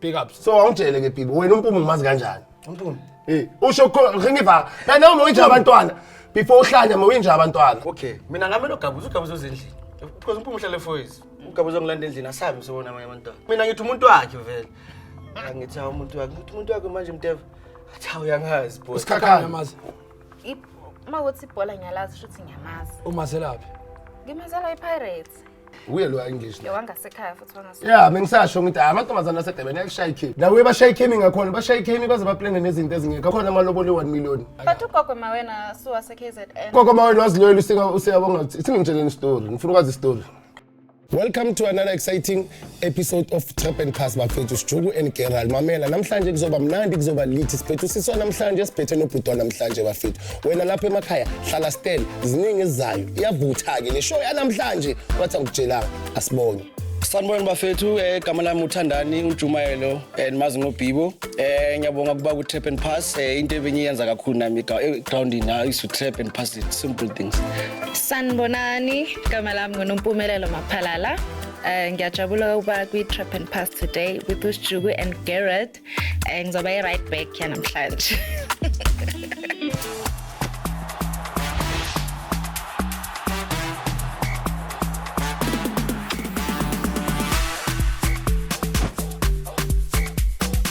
big ups so awungitshele ke bibi wena umpumi ngimazi kanjani umpumi eh usho ngiva kana uma uyinja abantwana before uhlanya uma uyinja abantwana okay mina ngame logabuza ugabuza uzindlini because umpumi uhlale foyis ugabuza ngilanda endlini asabi usibona amanye abantwana mina ngithi umuntu wakhe vele ngithi hawu umuntu wakhe ngithi umuntu wakhe manje mteva athi hawu uyangazi bo usikhakhana mazi uma ukuthi ibhola ngiyalazi shuthi ngiyamazi umazelaphi ngimazela ipirates Uye lo English. Yo wangasekhaya futhi wangasekhaya. Yeah, mengisasho ngithi ah, amantombazana asedebeni ayashaya ikhini. Nawe bashaya ikhini ngakhona, bashaya ikhini baze baplane nezinto ezingekho. Akhona amaloboli 1 million. But ugogo mawena suwa se KZN. Gogo mawena waziloyela usika usiyabonga ukuthi singimtsheleni story. Ngifuna ukwazi story. Welcome to another exciting episode of Trap and Cast bafethu Sijuku and Gerald mamela namhlanje kuzoba mnandi kuzoba lithi siphethu siswa namhlanje siphethe nobhutwa namhlanje bafethu wena lapha emakhaya hlala stand ziningi ezizayo iyavutha ke le show yanamhlanje wathi angikutshelanga asibonge sanibona bafethu eh, igama lami uthandani ujumayelo eh, and mazi ngobhibo um eh, ngiyabonga ukuba ku-trap and pass um into ebengiyenza kakhulu nami egroundini i used to trap and pass it simple things sanibonani igama lami ngunompumelelo maphalala Uh, ngiyajabula ukuba kwi-trap and pass today with usijuku and garrett um uh, ngizoba i-right back yanamhlanje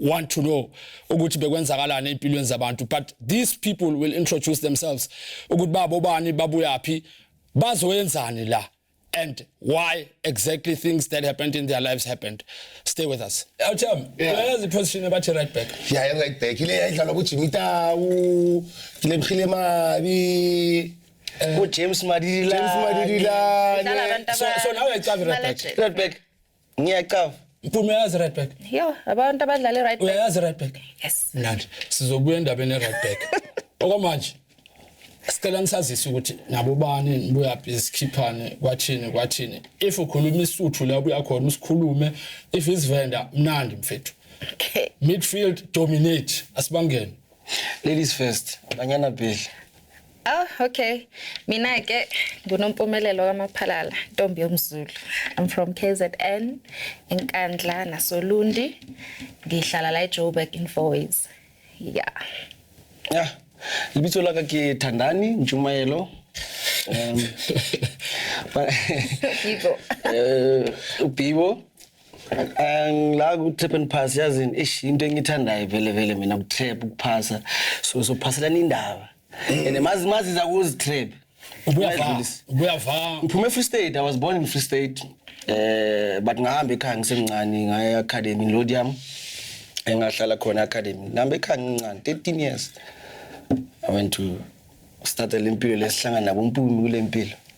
want to know ukuthi bekwenzakalani empilweni zabantu but these people will introduce themselves ukuthi babo bani babuyaphi bazoyenzani la and why exactly things that happened in their lives happened stay with us awutham uyayazi iposition ebathi right back ya yeah, right back ile yayidlalwa kujimmy tawu ile mhile mabi ujames eh, madililani so now uyayicava right back right back ngiyacava Mpume uyazi right back. Yo, abantu abadlala i-right back. Uyayazi right back. Yes. Mnandi. Sizobuya endabeni ye-right back. Okwamanje sicela nisazise ukuthi nabo bani nibuyaphi sikhiphane kwathini kwathini. If ukhuluma isuthu la ubuya khona usikhulume. If isivenda mnandi mfethu. Okay. Midfield dominate asibangene. Ladies first. Banyana Bheli. Oh, okay. Mina ke ngunompumelelo kaMaphalala, ntombi yomZulu. I'm from KZN, eNkandla nasoLundi. Ngihlala la eJoburg in Fourways. Yeah. Yeah. Lebitso la ka ke Thandani Ntshumayelo. Um, but Bibo. eh, uBhibo angila ku-trap and pass yazini eish into engiyithandayo vele vele mina ku-trap ukuphasa so sophaselana indaba and mazi mazi za kuzi trap uyavaa ngiphume free state i was born in free state eh but ngahamba ekhaya ngisemncane ngaya academy lodium engahlala khona academy ngihamba ekhaya ngincane 13 years i went to start lempilo lesihlangana nabo mpumi kulempilo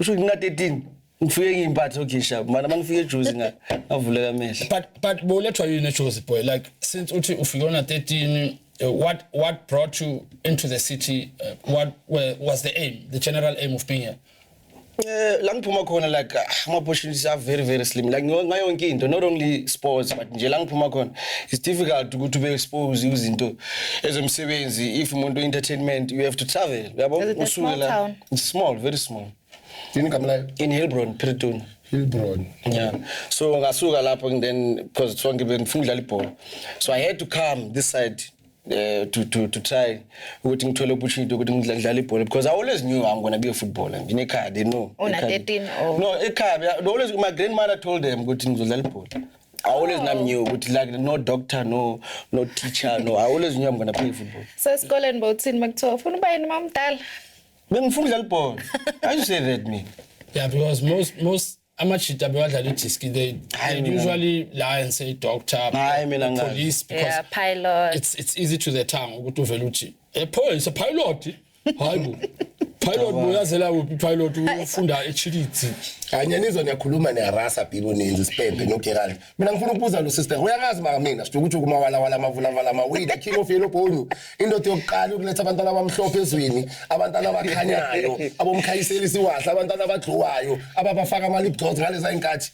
usho ukuthi ngina-13 ngifike ngiyimpathe ogisha mana uma ngifike ejuzi nga- ngavuleka amehlo but but bowulethwa yini ejozi boy like since uthi ufike ona-13 uh, what what brought you into the city uh, what were, was the aim the general aim of being here Eh, la ngiphuma khona like ah, ama-opportunities are very very slim like ngo- ngayo yonke into not only sports but nje la ngiphuma khona it's difficult ukuthi ube expose izinto ezomsebenzi if umuntu entertainment you have to travel uyabo Is it a usuke small la town? It's small, very small. Yini igama layo? In Hilbron, Piritoni. Hilbron. Yeah. So ngasuka lapho and then because sonke bengifuna ukudlala ibhola. So I had to come this side uh, to to to try ukuthi ngithole opportunity ukuthi ngidlale ibhola because I always knew I'm going to be a footballer. Nginekhaya they know. Una Ekhaya. 13 or- No, ekhaya. they Always my grandmother told them ukuthi ngizodlala ibhola. I always nam knew ukuthi like no doctor no no teacher no I always knew I'm gonna play football. So esikoleni bowuthini makuthiwa ufuna uba yini mamdala? Bengifuna udlala ibhola. I say that mina. Yeah because most most amajita bewadlala idiski they, they usually lie and say doctor Hayi mina ngazi. police because Yeah, pilot. it's it's easy to the tongue ukuthi uvele uthi a police a pilot hayibo pilot boyazela kuphi pilot ufunda echilidzi kanye nizwa niyakhuluma niyarasa bibo ninzi sibhebhe nogerald mina ngifuna ukubuza lo sister uyangazi maka mina sithuka ukuthi kumawalawala amavulavala amawili the king of yellow bone indoda yokuqala ukuletha abantwana abamhlophe ezweni abantwana abakhanyayo abomkhayiselisi wahle abantwana abadluwayo ababafaka ama-lip gloss ngaleza inkathi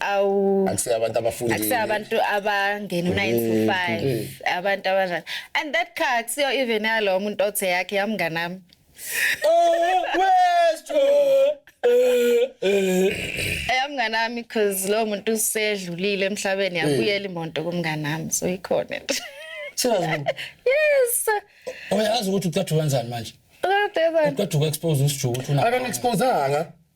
awu akusele abantu abafundile akusele abantu abangena u9 to 5 mm, mm. abantu abana and that car kusiyo even yalo umuntu othe yakhe yamnganami oh west eyamnganami eh, because lo muntu usedlulile emhlabeni yabuyela imonto kumnganami so ikhona nje Siyazibona. Yes. Uyazi ukuthi uqathuka kanjani manje? Uqathuka kanjani? Uqathuka expose usijuku uthuna. Akani expose anga.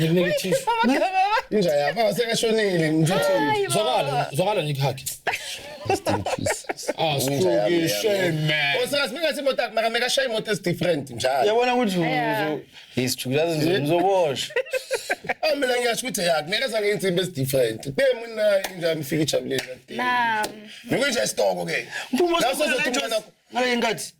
Ngikunike ithishu. Inja yakho asekashonile ngithuthini. Zwakala, zwakala ngikhakhe. Ah, sikuke shame. Osas mina sithi imoto maka meka shaya imoto is different njalo. Yabona ukuthi uzo isijula uzoboshwa. Ah mina ngiyasho ukuthi yakhe ngeke zange insimbi is different. Bemu nayo inja mfika ijabulela. Naam. Nikunje stoko ke. Phuma uzothi ngale nkathi.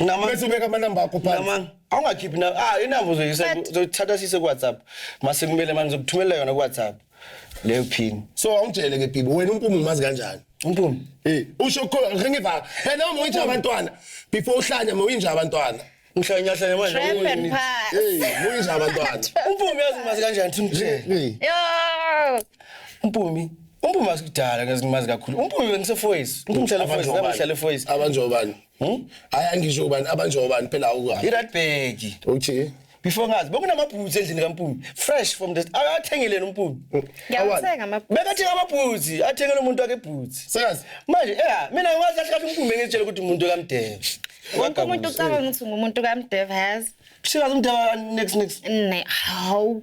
Nama- bese ubeka amanamba akho phansi Nama- awungakhiphi na ah inamba uzoyisa But- uzothatha sise kuwhatsapp mase kumele manje uzokuthumelela yona kuwhatsapp leyo pin so awungitshele ke bibi wena umpumu umazi kanjani umpumi Eh, usho khona ngiva phela uma uyinja abantwana before uhlanya uma uyinja abantwana ngihlanyahla manje Trap and uwini. pass. hey uma uyinja abantwana umpumi yazi mazi kanjani thimthe Hey. Yo. umpumi Umpume asikudala ngezingimazi kakhulu. Umpume bengisefoyisi. Umpume uhlala efoyisi, nami ngihlala efoyisi. Abanjobani? Hmm? Hayi angisho ubani abanjobani phela awukabi. IRadberg. Uthi before ngazi bekunamabhuzi endlini kaMpume fresh from the akathengeleni uMpume ngiyathenga amabhuzi bekathenga amabhuzi athengele umuntu wakhe ibhuzi sekazi manje eh mina ngiwazi kahle kahle uMpume ngitshela ukuthi umuntu kaMdeva wonke umuntu ucabanga ukuthi ngumuntu kaMdeva yazi sikazi uMdeva next next ne hawu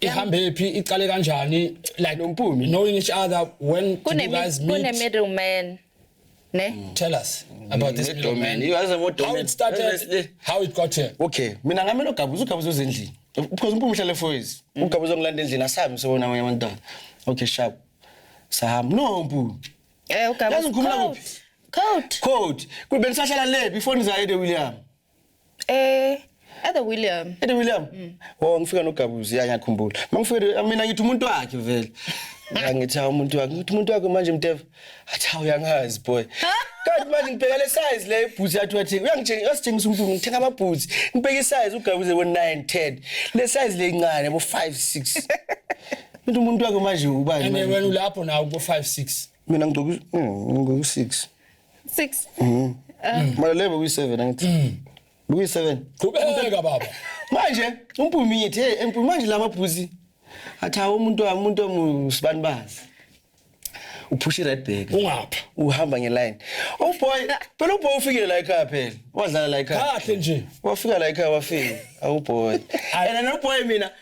ihambe phi iqale kanjani like Nompumi. knowing each other when did you guys meet kunemiddleman ne tell us about this Middle man. middleman You guys are more how it started dominant. how it got here okay mina ngame nogabuza ugabuza uzendlini because umpumi uhlale foyis ugabuza ongilanda endlini asabi msebenzi namanye abantwana okay sharp sahamba no mpumi eh ugabuza Yazi ngikhumula kuphi? coat code kube bengisahlala le before nizayede william Eh Ede William. Ede William. Mm. Oh ngifika nogabuzi ya ngiyakhumbula. Mangifika mina ngithi umuntu wakhe vele. Ngithi umuntu wakhe, ngithi umuntu wakhe manje mteva. Athi hawu yangazi boy. Kanti manje ngibheka le size le ibhuthi yathi wathi uyangitshengisa uyasitshengisa umuntu ngithenga amabhuthi. Ngibheka isize ugabuze bo 9 10. Le size le incane bo 5 6. Ngithi umuntu wakhe manje ubani? Ene wena ulapho nawo bo 5 6. Mina ngigqoka ngigqoka 6. 6 mm. um mara lebe kuyi 7 angithi mm. kuyi 7 qhubeka baba manje umpumi yithi hey empumi manje lama bhuzi athi hawo umuntu wami umuntu omusibani bazi uphusha i-red bag ungapha uhamba ngeline oh boy phela uboy ufikile la ekhaya phela wadlala la ekhaya kahle nje wafika la ekhaya wafika awuboy oh, and anoboy mina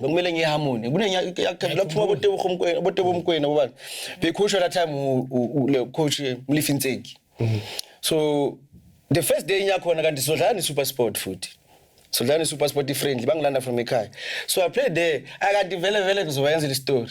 bekumele ngiye harmony kunenyaphuma botebomkwena botebomkwena bobani bekhushwa that time le coach mlifi ntseki mm. so the first day nyakhona kanti sizodlala ne-super sport futhi sizodlala ne-super sport i-friendly bangilanda from ekhaya so i played there akanti vele vele ngizobayenzela istory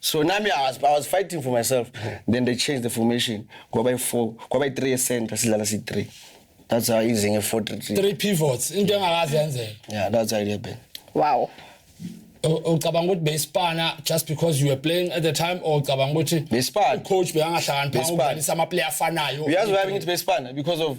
so nami I was, I was fighting for myself then they changed the formation kwaba i-four kwaba i-three ye-center sidlala si-three that's how easy nge-four three three three pivots into engakaze yenzeka yeah that's how it happened wow U- ucabanga ukuthi beyisipana just because you were playing at the time or ucabanga ukuthi Beyisipana. coach beyangahlakaniphanga Beyisipana. ukudlalisa amaplayer afanayo uyazi why bengithi besipana because of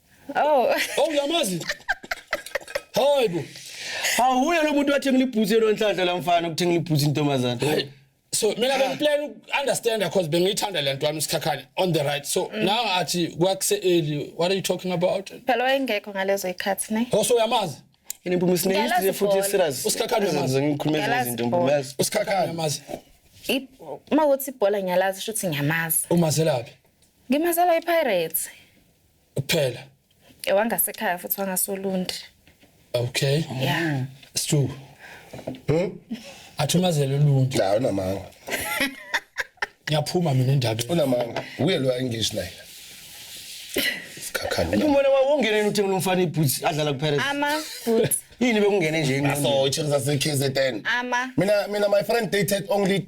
Oh. Oh uyamazi? Hayi bo. Hawu uye lo muntu wathenga ibhuthi yelo nhlanhla lamfana ukuthenga ibhuthi intombazana. Hayi. So mina bengiplan understand because bengiyithanda lento wami isikhakhane on the right. So mm. now athi kwakuse early. What are you talking about? Phela wayengekho ngalezo ikhathi ne. Oh so uyamazi? Yini impumi sine history futhi serious. Usikhakhane uyamazi ngikhulumela izinto ngiyamazi. Usikhakhane uyamazi. Uma uthi ibhola ngiyalazi shuthi ngiyamazi. Umazelaphi? Ngimazela iPirates. kuphela Eh, wangasekhaya futhi wangasolundi okay ya it's true Hmm? athumazele uluntu Cha unamanga. ngiyaphuma mina endabeni Unamanga. Uye lo English naye. Sikhakhana. Umbona wawo ungene uthengela umfana iboots adlala kuPirates. ama futhi Yini bekungene nje ingqondo? So it is as KZN. ama Mina mina my friend dated only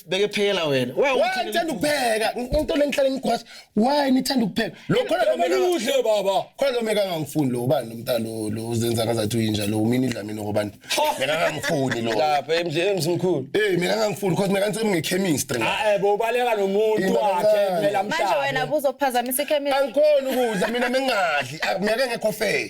beke phekela wena why why ngithanda ukupheka into lengihlale ngikhwasa why nithanda ukupheka lo khona lo meka udle baba khona lo meka ngangifuni lo ubani nomntana lo lo uzenza ngazathi uyinja lo mina idla mina ngobani meka ngangifuni lo lapha emzini mkhulu eh mina ngangifuni cause meka ngise ngechemistry ah ebo eh, ubaleka nomuntu wakhe kumela mhlawumbe manje wena buzophazamisa ichemistry angikhona ukudla mina mengadli ah, meka ngekho fair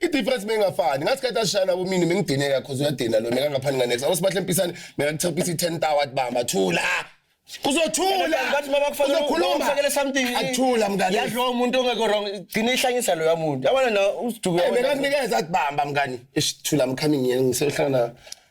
i difference bengafani ngathi kade ashana bo mina mengidineka cause uyadina lo mina ngaphani nga next awusibahle mpisane mina ngithopisa i 10 tower bamba thula kuzothula ngathi mama kufanele ukhulume something athula mngani yadlo umuntu ongekho wrong gcina ihlanyisa lo yamuntu yabona na usiduke mina nginikeza kubamba mngani isithula mkhami ngiyeni ngisehlangana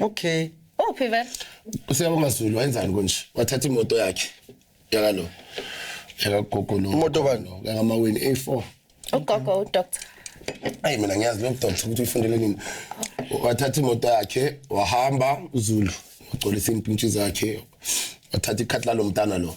Okay. Uphi vele? Usiyabonga Zulu wenzani konje? Wathatha imoto yakhe. Yaka lo. Yaka gogo lo. Imoto bani? Yaka maweni A4. Ugogo udoctor. Ayi mina ngiyazi lo doctor ukuthi ufundele nini. Wathatha imoto yakhe wahamba uZulu. Ugcolisa impintshi zakhe. Wathatha ikhathi lalo mntana lo.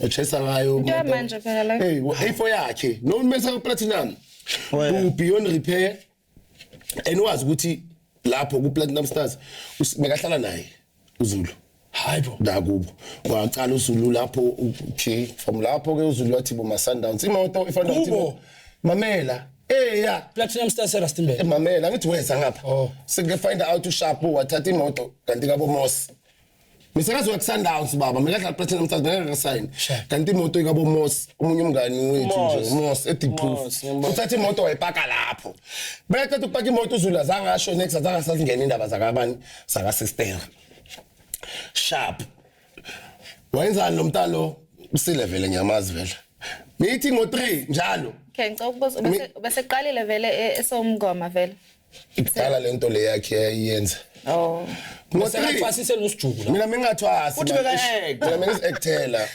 echesa ngayo Into yamanje phela la. hey ifo yakhe noma mesa ku platinum Oya. u beyond repair and wazi ukuthi lapho ku platinum stars us- bekahlala naye uzulu hayibo nakubo waqala uzulu lapho u- okay from lapho ke uzulu wathi bo ma sundowns imoto ifana Kubo? nokuthi mamela eh ya platinum star serastimbe mamela ngithi weza ngapha Oh. sike find out ushapo wathatha imoto kanti kabo mosi Misakazi weSundowns baba mekadlala platinum stars bengasign kanti imoto ikabomos omunye umngani wethu nje umos ediproof uthatha imoto wayipaka lapho bekaqeda ukupaka imoto uzula zangasho next azange sasingena indaba zakabani saka sister sharp wayenzani lo mntalo usile vele ngiyamazi vele ngithi ngo 3 njalo okay ngicela ukubuza ubeseqalile vele e-, esomngoma vele ikudala lento le yakhe yayenza oh ngosenathwasise nosijuku la mina mengathwasi uthi bekayeka mina mengisectela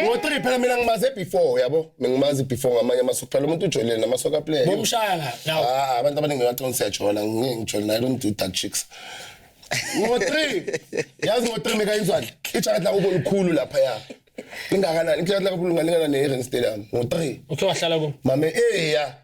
ngo-three phela mina ngimaze before yabo ngimazi before ngamanye amasoka phela umuntu ujolile namasoka player bomshaya ngawo ah abantu abaningi bathi siyajola ngijole naye lo mduda chicks ngo-three yazi ngo-three mekayizwani ijacket lakubo likhulu lapha ya ingakanani ijacket lakubo lingalingana ne-eren stadium ngo-three uthe wahlala ku mame eya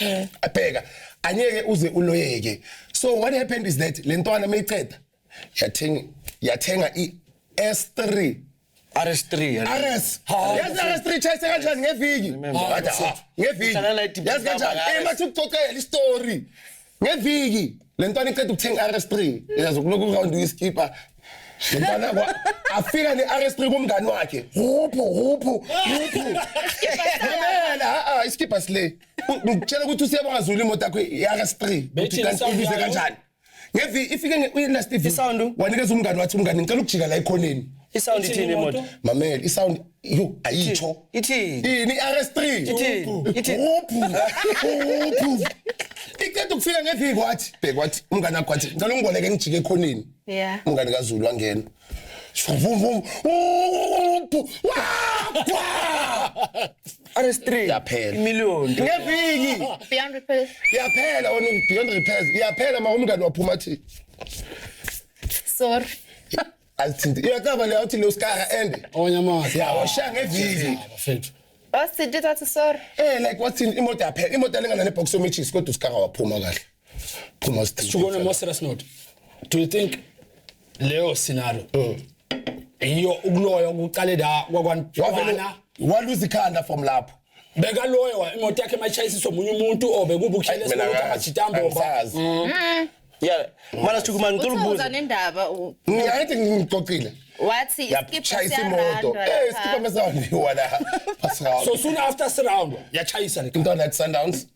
Eh. abheka anyeke uze uloyeke so what happened is that le ntwana mayiqeda yathenga yathenga i-s3 RS3 yalo. RS. Hawu. Yazi RS3 chase kanjani ngeviki? Remember. Wathi, Hawu, ah, Ngeviki. Uhlala la edibhini Yazi kanjani? laba, Eh mathi ukuxoxela istory. Ngeviki. Le ntwana iqeda ukuthenga RS3. Yazi ukulokhu round uyiskipa Ngibona kwa afika ne RS3 kumngani wakhe. Huphu huphu huphu. Mamela a iskipha sile. Ngitshela ukuthi usiyabonga Zulu imoto yakho iRS3. Bethi ubize kanjani? Ngevi ifike nge uyenast ivi. Isound wanikeza umngani wathi umngani ngicela ukujika la ekhoneni. Isound ithini imoto? Mamela isound yo ayitsho. Ithini? Ini RS3. Ithini? Ithini? Huphu. Huphu. Iqeda ukufika ngevi kwathi bhekwathi umngani wakho wathi ngicela ungiboleke ngijike ekhoneni. Yeah. Umngane kaZulu wangena. Vum vum. RS3 yaphela. Imillion. Ngeviki. Beyond repairs. Yaphela wena beyond repairs. Yaphela ma umngane waphuma thi. Sorry. Alithinte. Iyakaba le awuthi lo skara ende. Onyamazi. Ya washaya ngeviki. Bafethu. Wasithinte thathi sorry. Eh like wathini imoto yaphela. Imoto lengana ne box of matches kodwa uskara waphuma kahle. phuma sishukone mo serious note do you think leyo scenario mm. iyo ukuloya ukuqale la kwakwantwana waluza ikhanda from lapho beka loyo imoto yakhe mayishayisiswa omunye umuntu or bekuba ukukhala esikoleni akajita mbomba mm. yeah mara sithuka manje ngicela ukubuza nendaba ngiyayithi ngixoxile wathi isikipha imoto eh isikipha mesawona la so soon after surround yachayisa le mntwana at sundowns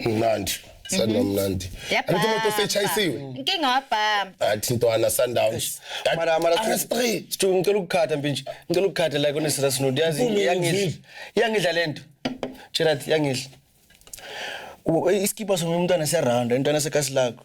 mnandi sanda mhm. mnandi angithi umuntu osechayisiwe inkinga wabhama athi ntwana sundowns mara mara straight sithu ngicela ukukhatha mbi nje ngicela ukukhatha like on serious note yazi yangidla yangidla lento tshela yangidla isikipa somuntu umntana siyaround intwana sekasi lakho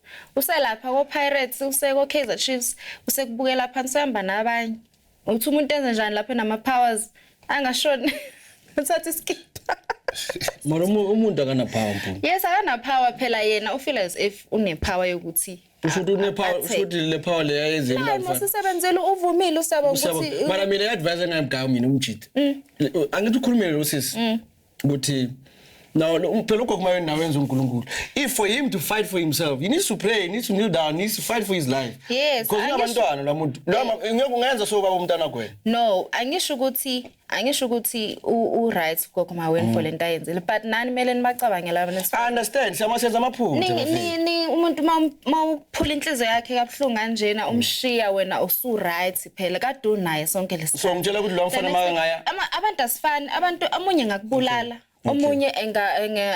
Uselapha koPirates, useko Kaizer Chiefs, usekubukela phansi uhamba nabanye. Uthi umuntu enze njani lapho nama powers angashoni. Uthatha iskipha. Mara umuntu akana power mpunga. Yes akana power phela yena ufila as if une power yokuthi ushuthi une power ushuthi le power le yayenze imali. Hayi musisebenzele uvumile usaba ukuthi Mara mina advise engayimgawu mina umjita. Mm. Angithi ukhulumele lo sisi. Mm. ukuthi now phela ugogo mayo nawe wenza uNkulunkulu if for him to fight for himself he needs to pray he needs to kneel down he needs to fight for his life yes because unabantwana la muntu noma eh. ngeke ungenza so baba umntana kwena no angisho ukuthi angisho ukuthi u right gogo maweni mm. for lento ayenzile but nani mele nibacabangela abana i understand siyama senza amaphutha ni ni umuntu uma uphula inhliziyo yakhe kabuhlungu kanjena umshiya wena usu right phela kadu naye sonke lesi so ngitshela ukuthi lo mfana maka ngaya abantu asifani abantu amunye ngakubulala omunye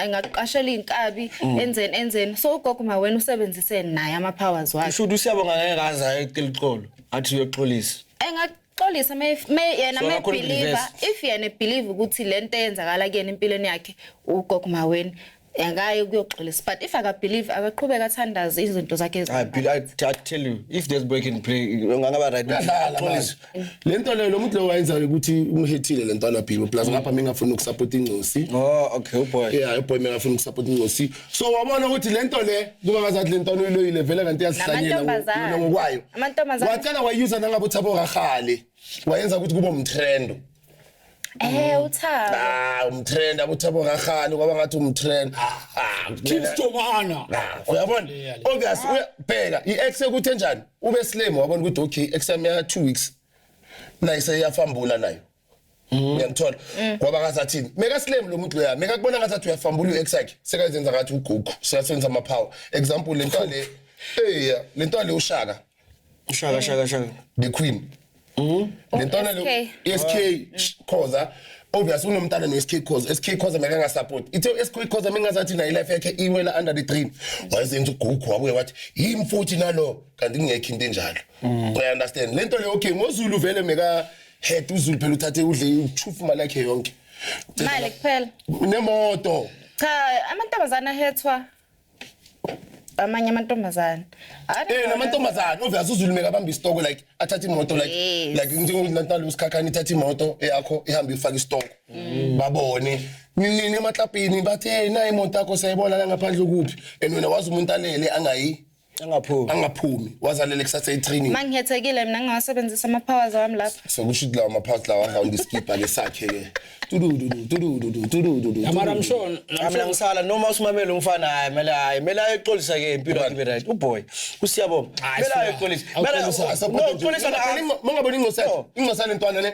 engakuqashela inkabi mm. enzeni enzeni so ugogo ma wena usebenzise naye ama powers wakhe usho ukuthi usiyabonga ngeke kaza ecela uxolo athi uyoxolisa enga xolisa me yena me believer if yena believe ukuthi lento eyenzakala kuyena empilweni yakhe ugogo maweni akaye ukuyoxolisa but if akabelieve akaqhubeke athandaze izinto zakhe I, ezi- be- I, I tell you, if there's break and play, ungangaba right. Uyadlala Xolisa. manje. le nto leyo lo muntu lowo wayenzayo ukuthi umhethile le ntwana bhilo plus ngapha mengafuni ukusapota incosi Oh, okay, oh boy. yeah boy mengafuni ukusapota incosi so wabona ukuthi le nto le kuba ngazathi le ntwana uyiloyile vele kanti iyazihlanyela ngo- Namantombazane. yona ngokwayo Amantombazane. wacela wayuza nangabe uthabo kahale wayenza ukuthi kube umtrendo Eh mm. uthabo. Ah umtrend abuthabo kakhani kwaba ngathi umtrend. Ah, ah Kim Stomana. Ah, uyabona? Obvious uyabheka i-ex ukuthi enjani? Ube slim wabona ukuthi okay ex yami ya 2 weeks. Naye seyafambula nayo. Mm. Uyamthola. Mm. Kwaba ngasathini? Meka slim lo muntu loya. Meka kubona ngathi uyafambula u-ex yakhe. Sekazenza ngathi ugugu. Sekasenza ama power. Example lento le. Hey, lento le ushaka. Shaka shaka shaka. The queen. Mhm. Lentwana lo SK. SK sh- Khoza obvious unomntana no SK Khoza. SK Khoza meke nga support. Ithe SK Khoza mengazathi nayo life yakhe iwela under the dream. Wayezenza ugugu wabuye wathi yimi futhi nalo kanti kungekho into enjalo. I understand. Lento le okay ngoZulu vele meka head uZulu phela uthathe udle uchufu imali yakhe yonke. Imali kuphela. Nemoto. Cha, amantombazana ahethwa amanye amantombazane eh namantombazane ove azuzulume kabamba isitoko like athatha imoto like Yes. like njengoNatali usikhakhani ithatha imoto eyakho ihamba ifaka isitoko Mm. babone nini emaklapini bathi hey nayi imoto yakho sayibona la ngaphandle kuphi and wena wazi umuntu alele angayi angaphumi angaphumi wazalele kusasa etraining mangihethekile mina ngingawasebenzisa ama powers wami lapha sokusho ukuthi lawa maphathi lawa round iskipha lesakhe ke tudududu tudududu tudududu yamara I'm sure I'm Mina sure ngisala noma usimamele umfana hayi mele hayi mele ayexolisa ke impilo yakhe ibe right uboy usiyabonga Hayi, mele suka. ayexolisa mele Awuxolisa. no xolisa na Mangaboni ingcosana ingcosana intwana le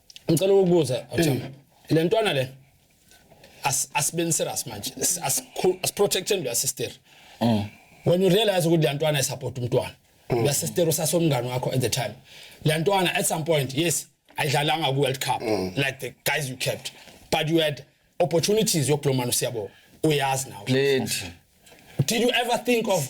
ngicela ukubuza eh. le ntwana le asibeni serious manje asiprotecteni leya sister mm. when you realize ukuthi le ntwana isupport umntwana mm. leya sister usasomngane wakho at the time le ntwana at some point yes ayidlalanga ku-world cup mm. like the guys you kept but you had opportunities yokulo mani usiyabo uyazi nawe did you ever think of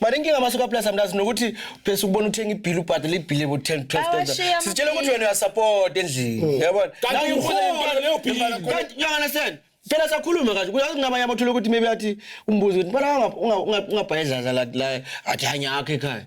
Manje inkinga masuka plus amlazi nokuthi phese ukubona uthenga ibhill ubhadala ibhill ebo 10 12,000. Sitshela ukuthi wena uyasupport endlini. Mm. Yabona? Kanti ukhona leyo bill. Kanti you understand? phela sakhuluma kahle kuyazi kunabanye abathola ukuthi maybe athi umbuzo ukuthi bala ungabhayedlaza la athi hanya akhe ekhaya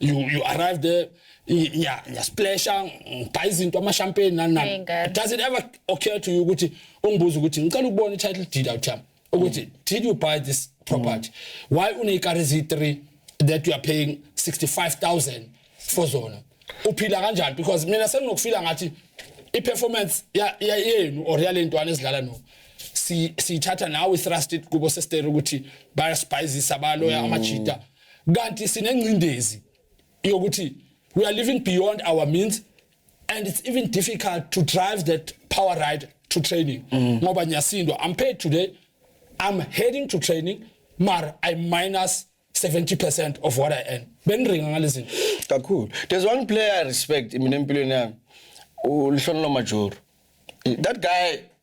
you you arrive there nya nya splasha ngibhayi izinto ama champagne nani nani does it ever occur to you ukuthi ungibuza ukuthi ngicela ukubona i-title deed out time ukuthi mm. did you buy this property mm. why uneyikari zi3 that you are paying 65000 for zona uphila kanjani because mina senginokufila ngathi i-performance yenu or yalentwana ezidlala no siyithatha nawe i-thrusted kubo sestere ukuthi bayasibhayizisa baloya mm. amajita kanti sinengcindezi yokuthi we are living beyond our means and it's even difficult to drive that power ride to training mm. ngoba nyasindwa i'm paid today i'm heading to training mar i minus 70% of what i earn benringa ngalezi kakhulu there's one player i respect mina empilweni yami ulihlonelo majoro that guy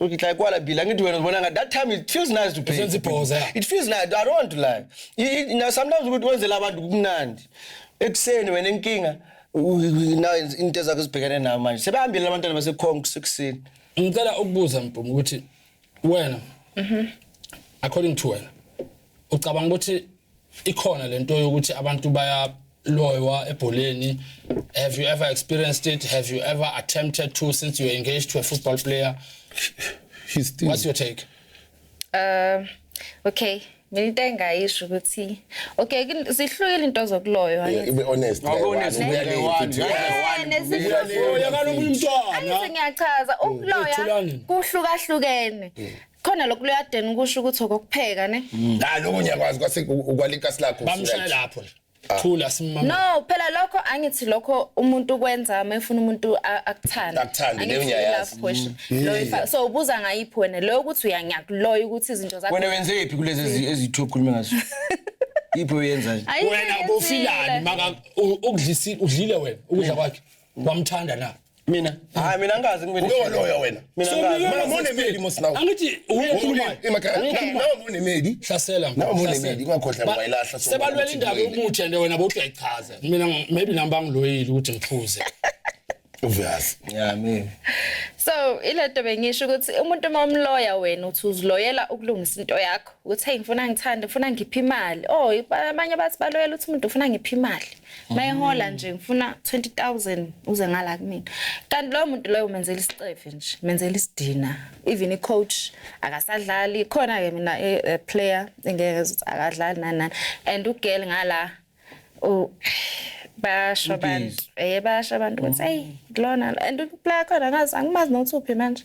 Uthi like kwala bila ngithi wena ubona ngathi that time it feels nice to pay. Senza ibhoza, yeah. It feels nice. I don't want to lie. I- i- Now sometimes ukuthi wenzela abantu kumnandi. Ekuseni wena inkinga u- u- now into zakho zibhekene nayo manje. Sebehambile abantwana basekhonk sekuseni. ngicela ukubuza mpumi ukuthi wena according to wena ucabanga ukuthi ikhona lento yokuthi abantu baya loywa ebholeni have you ever experienced it have you ever attempted to since you were engaged to a football player He's still... what's your take uh okay mina into engayisho ukuthi okay zihlukile into zokuloywa ibe honest honest ngiyachaza ukuloya kuhlukahlukene khona lokhu luyadena ukusho ukuthi okokupheka ne hayi lokho ngiyakwazi kwase ukwalikasi lakho bamshaya lapho nje Ah. thula simama no phela lokho angithi lokho umuntu kwenza uma efuna umuntu akuthanda akuthanda leyo ngiyayazi mm. loyo so ubuza ngayiphi wena leyo ukuthi uyangiyakuloya ukuthi izinto zakho wena wenze iphi kulezi ezithu okhuluma ngazo iphi uyenza wena ubufilani maka ukudlisi udlile wena ukudla kwakhe wamthanda na mina hayi mina angazi ngibe no loya wena mina angazi mama mone medi mosinawo angithi ukhuluma emakhaya nawo mone medi hlasela nawo mone medi ungakhohla ngoyilahla so sebalwela indaba yomuthi and wena bothi uyayichaza mina maybe namba ngiloyile ukuthi ngiphuze obvious yeah mina so ilento bengisho ukuthi umuntu uma umloya wena uthi uziloyela ukulungisa into yakho ukuthi hey ngifuna ngithande ngifuna ngiphe imali oh abanye bathi baloyela ukuthi umuntu ufuna ngiphe imali mayehola nje ngifuna 20000 uze ngala kumina kanti loyo muntu loyo umenzela isicefe nje menzela isidina even i coach akasadlali khona ke mina e, e player engeke akadlali nani nani and ugel ngala u basho abantu eh basho abantu ukuthi hey lona and uplayer khona ngazi angimazi nokuthi uphi manje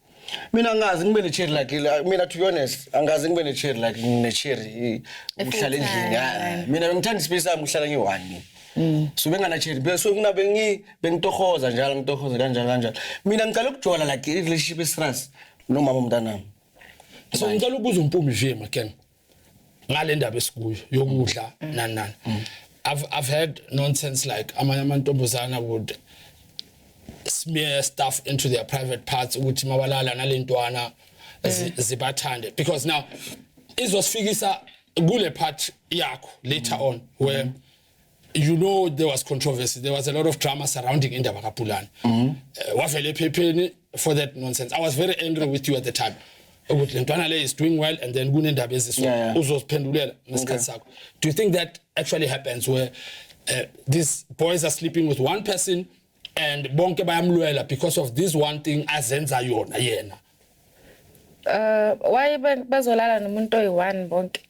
mina angazi ngibe ne-cherry like la- mina to be honest angazi ngibe ne-cherry like ne-cherry eh, uhlala endlini ah, mina bengithanda isipesi sami uhlala ngiyi-one Mm. so bengana-cherry be- so mina bengi- bengitohoza njalo ngitohoza kanjalo kanjalo mina ngicala ukujola like i-relationship esras nomama omntanami so ngicela ukubuza umpumi nje maken ngalendaba esikuyo yokudla mm. nani nani mm. I've I've heard nonsense like amanye amantombazana would smear stuff into their private parts ukuthi mabalala nalentwana mm. zibathande because now izosifikisa kule part yakho later on where mm -hmm. you know there was controversy there was a lot of drama surrounding indaba kaPulana mm -hmm. uh, wavele ephepheni for that nonsense i was very angry with you at the time ukuthi lentwana le is doing well and then kunendaba eziso yeah, yeah. uzoziphendulela ngesikhathi sakho do you think that actually happens where uh, these boys are sleeping with one person and bonke bayamlwela because of this one thing azenza yona yena uh why bazolala nomuntu oyi-one bonke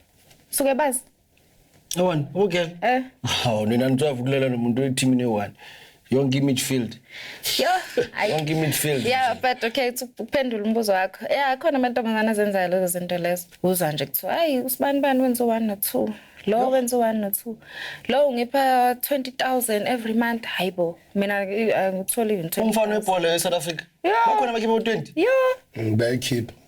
suke bazi Yabona, ubugel. Eh. Hawu nina nitwavu kulela nomuntu weteam ne one. Yonke midfield. Yo, ayi. Yonke midfield. Yeah, but okay, to kuphendula umbuzo wakho. Yeah, khona amantombazana azenzayo lezo zinto lezo. Uza nje kuthiwa, "Hayi, usibani bani wenza 1 no 2." Lo wenza 1 no 2. Lo ungipha 20,000 every month. Hayibo, mina angitholi even 20. Umfana webhola eSouth Africa. Yeah. Bakhona abakhipha u20. Yo, Bayikhipha.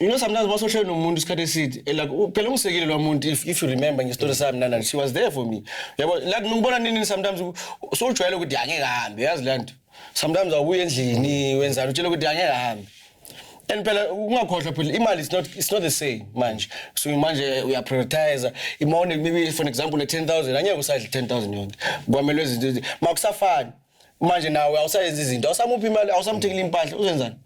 you know sometimes basohlele nomuntu isikhathi eside eh, like phela ungisekile lo muntu if, if you remember ngestory sami nana she was there for me yabo like ngibona nini sometimes so ujwayele ukuthi angeke hambe yazi le nto sometimes awuye endlini wenzani utshela ukuthi angeke hambe and phela ungakhohlwa phela imali is not it's not the same manje so manje uya prioritize imone maybe for example le 10000 angeke usadle 10000 yonke kwamelwe izinto makusafani manje nawe awusayenza izinto awusamuphi imali awusamthekile impahla uzenzani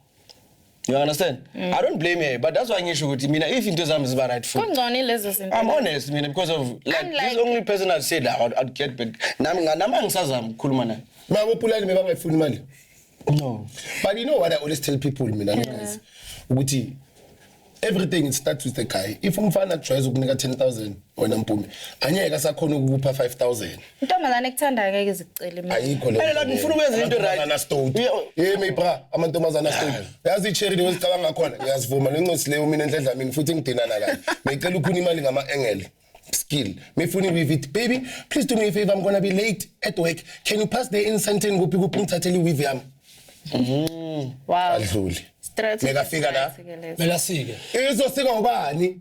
You understand? Mm. I don't blame her, but that's why ngisho ukuthi mina if into zami ziba right for. Kungcono lezo zinto. I'm honest mina because of like I'm like, this only person I said I would, I'd get back. Nami nganami angisazama ukukhuluma naye. Baba uPulani bebangayifuni imali. No. But you know what I always tell people mina ngiyazi ukuthi everything it starts with a guy. If umfana tries ukunika 10000 wena mpume, anyeke asakhona ukupha 5000. Intombazane ekuthandayo ngeke izicele imali. ayikho le Phela lapho ufuna ukwenza into right. anastoti yimi bra amantombazana astoti yazi icherry leyo sicabanga ngakhona ngiyazivuma lencosi leyo mina enhle dlamini futhi ngidinana kayo ngicela ukhuna imali ngama engele skill mifuni with it baby please do me a favor i'm gonna be late at work can you pass the incense and kuphi kuphi ngithathele iweave yami Wow. adluli Strategy. Mekafika la. Mela sike. izosika ubani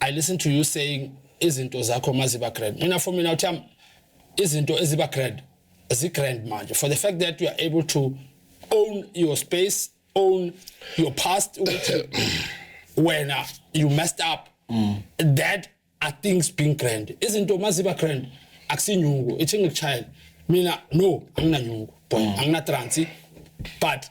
I listen to you saying izinto zakho maziba grand. Mina for mina uthi izinto eziba grand zi grand manje for the fact that you are able to own your space, own your past ukuthi wena you messed up. Mm. That are things being grand. Izinto maziba grand akusinyungu ithi ngikuchayela. Mina no anginanyungu. Boy, mm. anginatransi but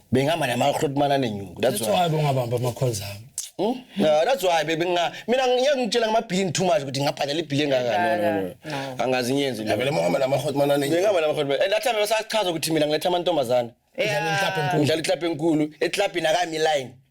bengihamba namahloti manane nyungu that's why bongabamba amakhonza ami Hmm? No, that's why baby nga mina ngeke ngitshela ngamabhilini too much ukuthi ngabhadala ibhili engaka no no no No. angazi ngiyenzi le Vele muhamba namakhoti manane. ngingaba namakhoti and that time besachaza ukuthi mina ngiletha amantombazana Yeah. Ngidlala iklabhu enkulu eklabhini akami line